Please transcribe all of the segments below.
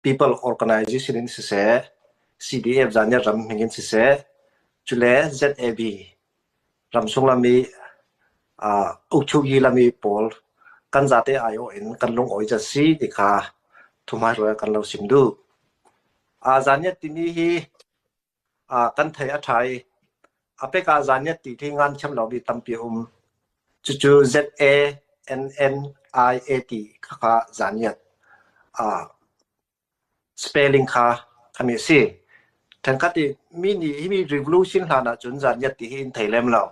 people organization in siseh, CDF zan nih ram hming in siseh, cule ZAB ram sullam i uh, ukchugi lami pawl kan zate aio in kan lungawi ja si ti kha thumai ruai kan lo sim du. A zan nih timi hi kan thei a ṭha i a pek ah zaniat ti thi ngan thiam lo mi tampi a um. Cucu Z-A-N-N-I-A-T kha kha zaniat spelling kha kami si. Tangkat i mi nih hi mi revolution hlan ah cun zaniat ti hi in thei lem lo.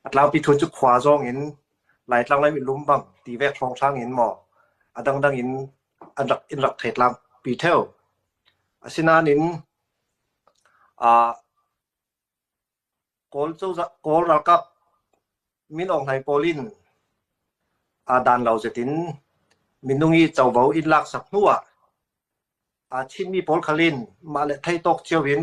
A tlangpi thu cu khua zong in lai tlang lai mi lumbang ti vek hrawng hrang in maw a dangdang in an rak in rak thei tlang pi theo Asinain Kawl ralkap min Aung Hlaing pawl in aa dan lo zetin minung i covo in laaksak hnu ah aa thimmi pawl khal in mah le theitawk cio in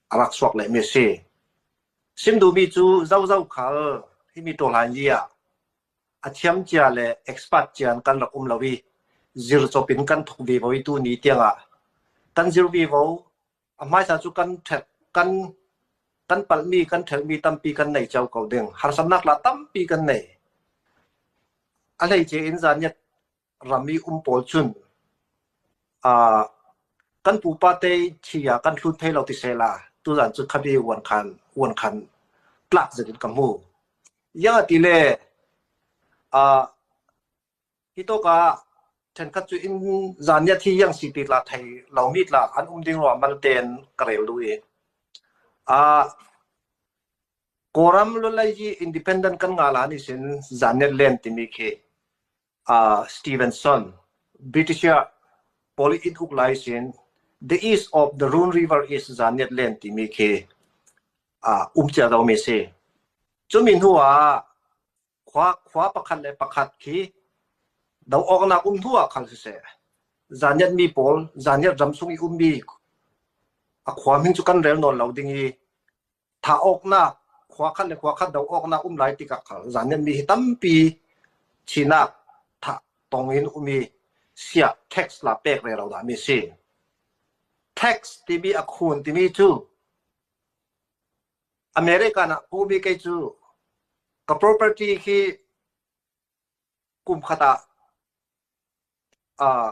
a rak suak lehmi a si. Sim duhmi cu zozo khal himi tawhlaili ah a thiamcia le expert cia in kan rak um lo i zircop in kan thok ve vo i tu ni tiangah kan zir ve vo a hmaisa cu kan ṭhet kan kan palhmi kan ṭhelmi tampi kan nei cio ko ding harsamnak la tampi kan nei a hleice in zaniat ram i um pawl cun aa kan pupa te thi ah kan hlut thai lo ti sehla tuzan cu khabe uan khan uan khan tlak zet in ka hmu yang ti le uh, hi to ka then khat chu in zan ya thi yang si ti la thai lo mi la an um ding ro mal ten karel lu e a koram lo lai ji independent kan nga la ni sin zan ya len ti mi khi Stevenson, Britisher, pawl i inn uk lai sin The East of the Rune River is Zannet Land timi khi um cia zomi si. Cumi hnu ah khua, khua pakhat le pakhat khi do awknak um hnu ah khal siseh zannet mi pawl zannet ram chung i ummi a khua min cu kan rel nawn lo ding i thah awknak khua khat le khua khat do awknak um lai tikah zan ni mi hi tampi thinak thah tong in um i sia tax la pek re lo da mi si tax timi a khun timi cu America na pu mi kei cu ka property khi kum khata uh,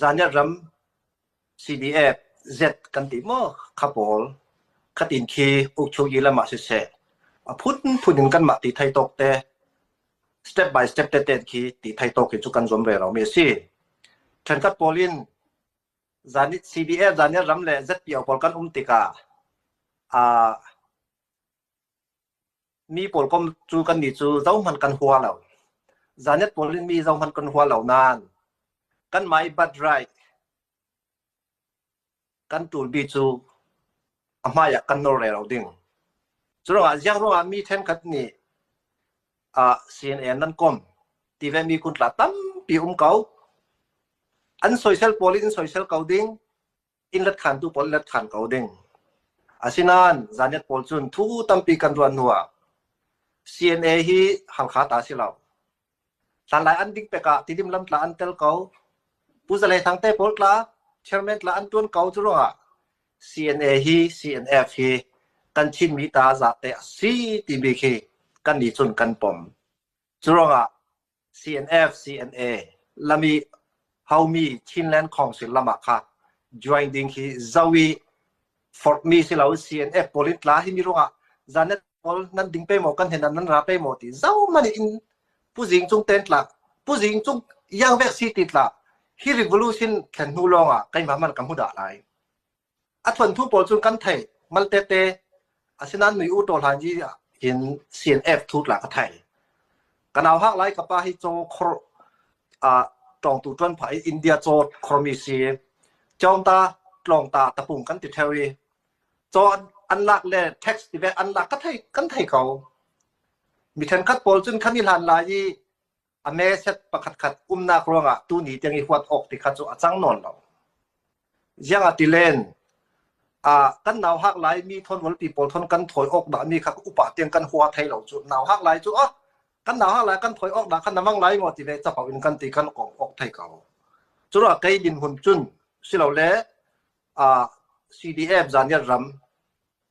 Zaniah ram CDF Z kan ti maw kha pawl khatin khi uk chung i lamah siseh a phunphun in kan mah ti thai tok te step by step te te khi ti thai tok hi chu kan zuam ve lo mi a si ṭhenkhat pawl in zani CDF zaniah ram le ZPO pawl kan um tikah a Mi pawl kom cu kannih cu zohhmanh kan hua lo. Zannet pawl in mi zohhmanh kan hua lo nain kan my but right kan tulbi cu a hmai ah kan nawr re lo ding. Cu ruangah ziang ruangah mi thenkhat nih uh, CNN nan kom tive mi kun tla tampi um ko an soisel pawl in soisel ko ding inn let khantu pawl let than ko ding. Asinain zaniat pawl cun thu tampi kan ruah hnu ah CNA hi halkha ta si lo. Hlanlai an ding pek ah tidim lam tla an tel ko. Pu Zalei Thangte pawl tla chairman tla an tuan ko cu ruangah CNA hi CNF hi kan Chinmi ta zate a si timi khi kan nih cun kan pom. Curuangah CNF-CNA lam i haumi Chinland Council lam ah kha join ding hi zoh i forhmi si lo CNF pawl in tla hi mi ruangah zanet pawl nan ding pe maw kan hen nan ra pe maw ti zoh man in puzing cung ten tla puzing cung yang vek si ti tla hi revolution thlen hnu lawngah keimah man ka hmu dah lai. A thawnthu pawl cu kan thei mal tete. Asinain mi u ṭawlhai ji in sin ek thut la ka thei. Kan au hak lai ka pa hi chaw khor a tawng tu ṭuan phai India chaw khormi si. Chawng ta tlawng ta tapung kan ti theo i chaw an an lak le tax ti ve an lak ka thei kan thei ko. Mi thenkhat pawl cun kan i hlan lai i A meset pakhatkhat umnak ruangah tuni tiang i huat awk ti kha cu a cang nawn lo. Ziang a tilen, uh, kan nau hak lai mi thon walpi pawl thon kan thoi awk dah mi kha upa tiang kan hua thei lo cu nau hak lai cu ah kan nau hak lai kan thoi awk dah kan namang lai ngo ti ve chapau in kan ti kan kong awk thei ko cura kai din hun cun silo le uh, CDF zan yat ram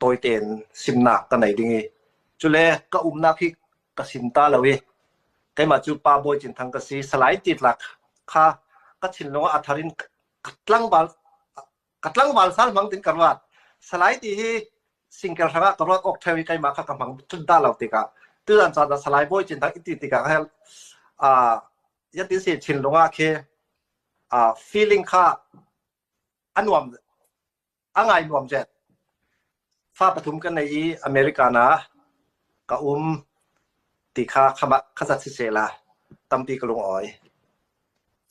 tawi tein simnak ka nei ding i cule ka umnak hi ka sim ta lo i keimah cu pa bawi cin thang ka si salai titlak kha ka thinlung ah a thar in tlangval ka tlangval sal mang tin ka ruat salai ti hi singkel hrang ah ka ruat ok theo i keimah kha ka hmang tun da lo tikah tuan caan ah salai bawi cin thang iti tikah hel a yati se thinlung ah khi a feeling kha a nuam a ngai nuam zet. Fa pathum kan nei i America na ka um ti kha khamah kha zat siseh la tampi ka lung awi.